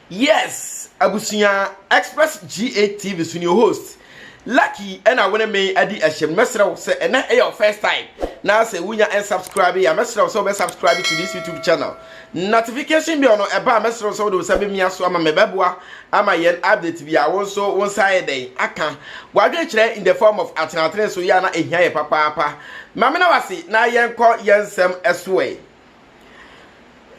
yes abusua express ga tv so ne host lucky ɛna wone me adi ahyɛm mɛsrɛ wo sɛ ɛnɛ ɛyɛ wo first time na sɛ wonya ɛnsubscribe yɛ a mɛsrɛ wo sɛ wobɛsubscribe to this youtube channel Notification bell no ɛba a mɛsrɛ wo sɛ wode wo nsa bɛmia so ama me ɛbɛboa ama yɛn update biara wo nso wo nsa ayɛ dɛn aka w'adwene kyerɛ in the form of atenatene so yɛ a na ɛhia yɛ papaapa ma me na wase na yɛnkɔ yɛn nsɛm ɛso ɛ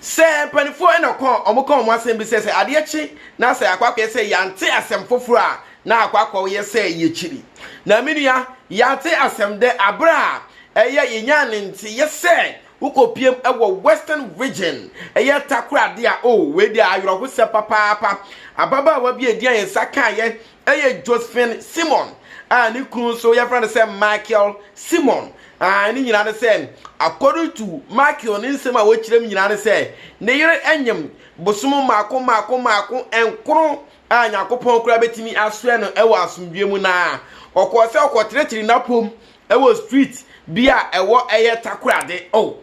sɛ mpanifoɔ ɛna ɔkɔ ɔmo kɔ ɔmo asɛm bi sɛ sɛ adeɛ kye na sɛ akɔ akɔyɛ sɛ yɛante asɛm foforɔ a na akɔ akɔ yɛ sɛ yɛkyiri na menua yɛante asɛm dɛ abere a ɛyɛ yɛnya ne nte yɛ sɛ Wokɔ piem wɔ Western Region, ɛyɛ takoradi a oh, wei deɛ ayerɛhosɛ papaapa. Ababaawa bi a ɛdi a yɛn nsa kaeɛ ɛyɛ Josephine Simon a ne kunu nso yɛfrɛ no sɛ Michael Simon. Ah, ne nyinaa ne sɛ, according to Michael ne nsɛm a wɔkyerɛ mu nyinaa ne sɛ, ne yere anyem bosom mmaako mmaako mmaako nkoro a Nyankopɔn koraa bɛtumi asoɛ no wɔ asomdwoeɛ mu na ɔkɔɔ sɛ ɔkɔtenetene n'apom ɛwɔ street bi a ɛwɔ ɛyɛ takorade o oh,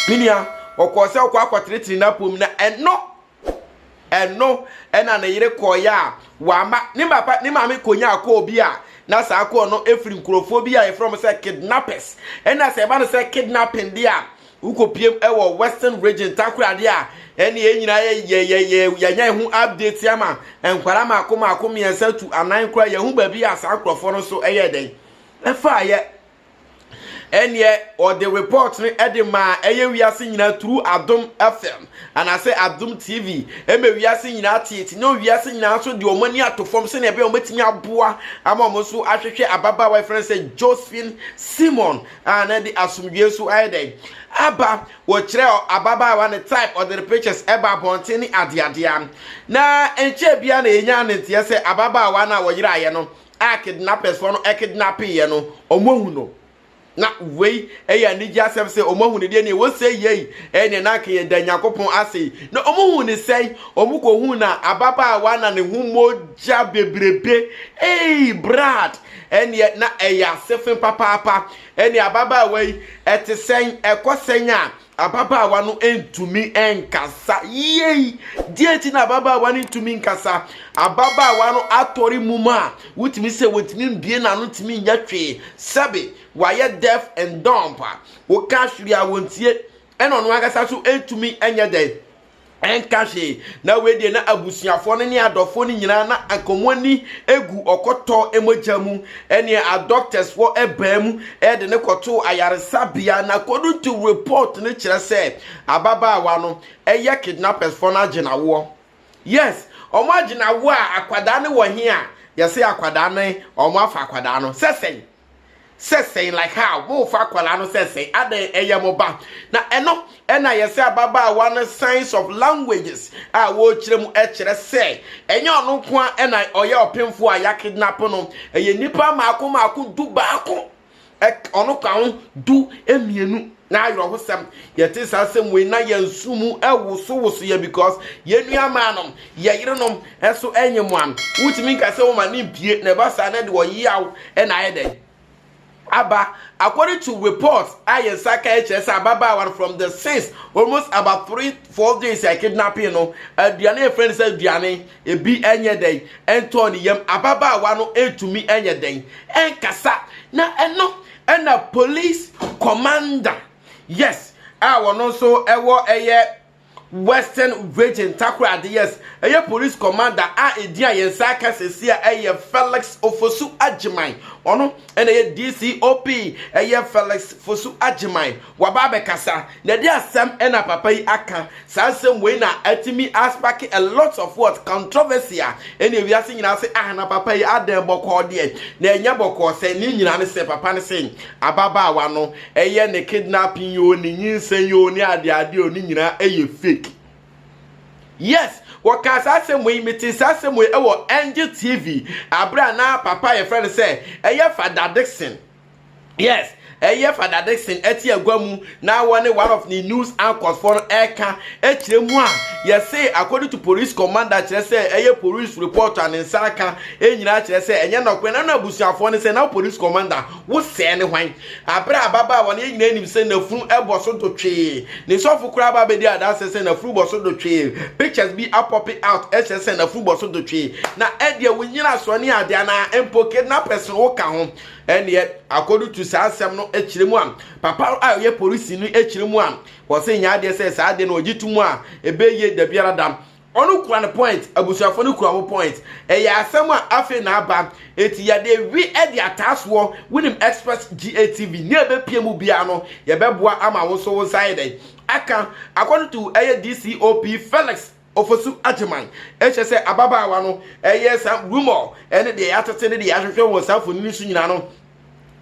menua ɔkɔɔ sɛ ɔkɔ akɔtenetene n'apom na ɛno ɛno ɛna ne yere kɔɔyɛ a wama ne papa ne maame kɔnyaa kɔɔ bi a na saa kɔɔ no ɛfiri nkurɔfoɔ bi a yɛfrɛ mo sɛ kidnappers ɛna sɛ ɛba no sɛ kidnapping deɛ a Wokɔpiem wɔ western region takoradi a ɛne yɛn nyinaa yɛ yɛ yɛ yɛ yɛanya yɛn ho update ama nkwadaa mako mako mmiɛnsa tu anan koraa yɛn ho baabi a saa nkurɔfoɔ no nso yɛ dɛn ɛfaa yɛ ɛneɛ ɔde report no ɛde maa ɛyɛ wiase nyinaa turu adom fm anaasɛ adom tv ɛma wiase nyinaa teete na wiase nyinaa nso de wɔn ani ato fam sɛnea ɛbɛyɛ wɔn bɛtumi aboa ama wɔn nso ahwehwɛ ababaawa ɛfrɛ sɛ josephine simon a na ɛde asomdwoe nso ayɛ dɛn aba wɔkyerɛ ababaawa ne type ɔde ne pictures ɛba abɔnten ne adeadea na nkyɛ bia na yɛnya ne nteɛ sɛ ababaawa no a wɔyeraeɛ no a kidnappers fɔ no ɛkidnappeeɛ no ɔmo ahu no na wei ɛyɛ anigye asɛm sɛ ɔmo ahu no deɛ ne ɛwɔ sɛ yei ɛne na anka yɛda nyankopɔn ase yi na ɔmo hu ne sɛn ɔmo kɔhu na ababaawa na ne ho mogya bebrebe ei brad Ɛnneɛ na ɛyɛ asefe papaapa. Ɛnneɛ ababaawa yi, ɛte sɛn? Ɛkɔ sɛn a ababaawa no ntumi nkasa? Yei! Deɛ nti na ababaawa no ntumi nkasa. Ababaawa no atɔre mum a wotumi sɛ wɔntumi mbie n'ano ntumi nyɛ hwee. Sɛbe wayɛ deaf and dumb a, woka hwere a wɔntie. Ɛna ɔno ankasa nso ntumi nyɛ dɛn? ɛnka hwee na wei deɛ na abusuafoɔ no ne adɔfoɔ no nyinaa na nkɔmmɔ ani gu ɔkɔtɔ mogya mu ɛneɛ adɔktɛsfoɔ ɛbaa mu ɛde ne kɔtoo ayaresabea na according to report no kyerɛ sɛ ababaawa no ɛyɛ kidnappersfoɔ no agye n'awoɔ yes wɔn agye n'awoɔ a akwadaa no wɔ he a yɛse akwadaa no wɔn afa akwadaa no sɛ sɛn sɛ sɛn like how mofa akwadaa no sɛ sɛn adɛn ɛyɛ mo ba na ɛno ɛna yɛsɛ ababaawa no signs of languages a wɔrekyerɛ mu ɛkyerɛ sɛ ɛnyɛ ɔno nko a ɛna ɔyɛ ɔpemfo a yɛakidnap no ɛyɛ nnipa mmaako mmaako du baako ɔno ka ho du mmienu na awerɛhosɛm yɛte saa asɛm wei na yɛn nso mu ɛwosowoso yɛ because yɛn nuamaa nom yɛ yerenom ɛso ɛnyɛ mu am wotumi nka sɛ wɔma ne mpie na ɛba saa na de ɔyeaw ɛna ayɛ dɛn aba according to reports a yɛn nsa ka ɛkyerɛ sɛ ababaawa no from the since almost about three four days a kidnapping no aduane efrɛ no sɛ aduane ebi ɛnyɛ dɛn ɛntɔɔ ne yam ababaawa no ɛntumi ɛnyɛ dɛn ɛnkasa na ɛno Ɛna police commander yes a wɔn nso ɛwɔ ɛyɛ western region takoradi yes ɛyɛ police commander a edin a yɛn nsa aka sɛsi a ɛyɛ felix ofosu agyeman ɔno ɛna ɛyɛ dcop ɛyɛ felix fosu agyeman Waba abɛkasa na de asɛm na papa yi aka. Saa nsɛm wei na atumi aspake a lot of what controversy a ɛne wiase nyinaa se ah na papa yi adɛn bɔkɔɔ deɛ na ɛnyɛ bɔkɔɔ sɛ ne nyinaa ne sɛ papa no se ababaawa no ɛyɛ ne kidnapping yoo ne nyinsɛn yoo ne adeade o ne nyinaa ɛyɛ fake. Yes, wɔkaa saa asɛm wei metee saa asɛm wei ɛwɔ Angel TV abere a na papa yɛfrɛ no sɛ ɛyɛ Fada Dixon. Yes, ɛyɛ Fada Dickson ɛte agua mu na wɔne one of ne news anchors fɔ no ɛka ɛkyerɛ mu a yɛse according to police commander kyerɛ sɛ ɛyɛ police report a ne nsa aka ɛnyinaa kyerɛ sɛ ɛnyɛ nɔkorɛ na no abusuafoɔ ne sɛ na police commander wo sɛɛ ne hwan aberɛ a baba wɔne yɛ nyinaa nim sɛ nafunu ɛbɔ so do twee ne sɔfo koraa ba bɛdi adanse sɛ nafunu bɔ so do twee pictures bi apɔpe out ɛkyerɛ sɛ nafunu bɔ so do twee na ɛdeɛ wo nyina soɔ ne adeɛ anaa mpo kidnappers no wo ka ho ɛnneɛ akɔdu tu saa asɛm no akyerɛ mu a papa a ɔyɛ polisi no akyerɛ mu a wɔsɛ nyɛ adeɛ sɛ saa adeɛ no ɔgye to mu a ɛbɛyie da biara da ɔno kura no point abusuafoɔ no kura wo point ɛyɛ asɛm a afei na aba eti yɛde wi ɛde ataasoɔ wonim express gatv ne ɛbɛpie mu biara no yɛbɛboa ama wo nso wo nsa ayɛ dɛn aka akɔtutu ɛyɛ dcop felix Ofosu Agyeman kyerɛ sɛ ababaawa no yɛ saa rumor ne deɛ yɛatete ne deɛ yɛahwehwɛ wɔ saa mfonini no so nyinaa no,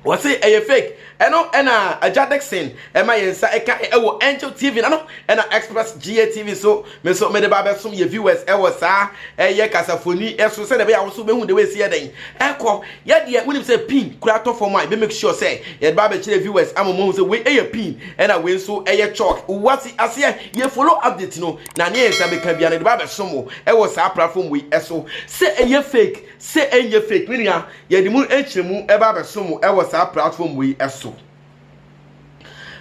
wɔse ɛyɛ fake. Ɛno na Agya Dickson ma yɛn nsa kae wɔ Angel TV ano na Express GATV so. Me nso mede ba abɛsom yɛn viewers wɔ saa ɛyɛ kasafoni so sɛdeɛ ɛbɛyɛ a wo nso wobɛhu deɛ ɛsi yɛ dɛn ɛkɔ. Yɛ deɛ wonim sɛ pin koraa tɔ fam a, yɛbɛ make sure sɛ yɛde ba abɛkyerɛ viewers ama wɔahu sɛ wei yɛ pin na wei nso yɛ chalk. Wate aseɛ? Yɛ follow update no. Na nea ɛsɛ sɛ meka biara, mede bɛabɛsom wo wɔ saa platform wei so. Sɛ ɛyɛ fake, sɛ ɛnyɛ fake, me nua, yɛde mu nkyerɛmu ba abɛsom wo wɔ saa platform wei so.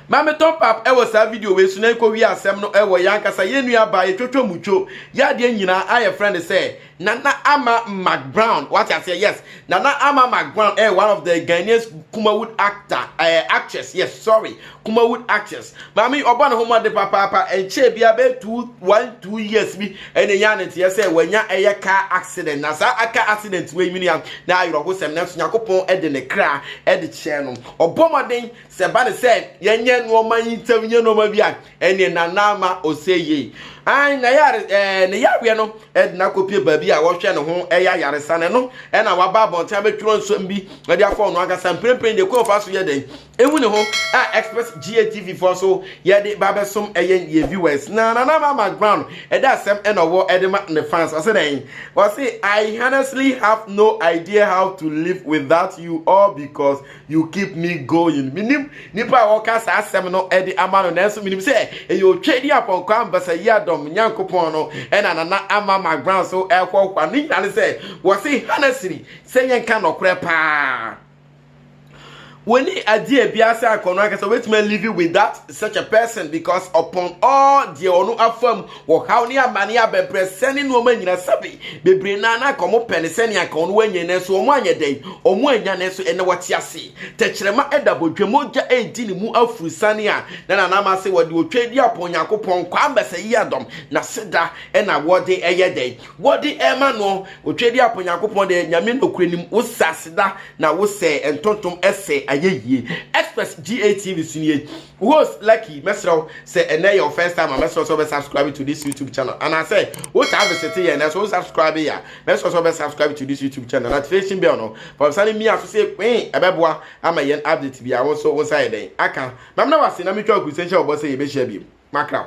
Ma metɔ pap wɔ saa video wei so na yɛnkɔwie asɛm no wɔ yɛn ankasa yɛn nuabaa yɛtwatwa mu two yɛ adeɛ nyinaa a yɛfrɛ no sɛ Nana Ama McBrown, wate aseɛ, yes. Nana Ama McBrown ɛyɛ one of the Ghanaians Kumawood actor, ɛɛ eh, actress, yes, sorry, Kumawood actress. Maame ɔbɔ ne ho mmɔden papaapa, ɛnkyɛɛ biara bɛyɛ two, one, two years bi ɛna ɛnya ne nteɛ sɛ wanya ɛyɛ car accident. Na saa aka accident wei nwini a, na ayerɛhosɛm, nanso Nyankopɔn ɛde ne kra ɛde kyɛɛ no. Ɔbɔ mmɔden sɛ ba ne sɛ yɛnyɛ nneɛma yi ntɛm, yɛ nneɛma bi a, ɛne nana ama ɔsɛ yie an na yare ɛɛ ne yareɛ no ɛde no akɔpie baabi a wɔhwɛ ne ho ɛyɛ ayaresa no ɛno ɛna waba abɔnten abɛtwerɛ nsɛm bi ɛde afɔ ɔno ankasa mprempren deɛ kwan fa so yɛ dɛn ehu ne ho a express gatv foɔ so yɛde ba bɛsom ɛyɛ yɛ viewers na nana ama ground ɛda asɛm ɛna ɔwɔ ɛde ma ne fans ɔsɛ dɛn ɔsɛ i honestly have no idea how to live without you all because You keep me going. Minim nipa a wɔka saa asɛm no de ama no, nanso minim sɛ ɛyɛ otwadi apɔnkɔ ambasa yi adɔm Nyankopɔn no ɛna nana ama magbran so ɛhɔhoa. Ne nyinaa ne sɛ wɔse hana sini sɛ yɛnka nɔkorɛ paa. Wɔni adeɛ a biara sɛ akɔnɔ ankasa wɔbɛtumi alive with that such a person because upon all deɛ ɔno afam Ɔhaw ne amane, abɛbrɛsɛ ne nnoɔma nyina sɛbe bebree naa na anka wɔpɛ ne sɛnea anka wɔn wɔanya nanso wɔn anyɛ dɛn wɔn anya nanso ɛnɛ wɔte ase tɛkyerɛma ɛda bɔdwa mu ogya ɛredi ne mu afurusan a na nanam ase wɔde otwa adi apɔn Onyankopɔn kwaa mbɛsɛ yi adɔm n'aseda ɛna wɔde ɛyɛ dɛn wɔde ɛma no otwa adi apɔn Onyankopɔn deɛ nyame nokure nim wo sɛ aseda na wo sɛ ntontom ɛsɛ ayɛ yie express GATV so nie Host Lucky, mɛsrɛ wo sɛ ɛnnɛ yɛ wo first time a, mɛsrɛ wo sɛ wobɛ subscribe to this YouTube channel. Anaasɛ wotaa visite yɛn nanso wo subscribe yɛ a, mɛsrɛ wo sɛ wobɛ subscribe to this YouTube channel. Notification bell no, fa wo nsa no mia so sɛ kwee, ɛbɛboa ama yɛn update biara wo nso wo nsa ayɛ dɛn aka. Mamena wo ase na metwa wo kurusenhyɛ wo bɔ sɛ yɛbɛhyia biom. Makra wo.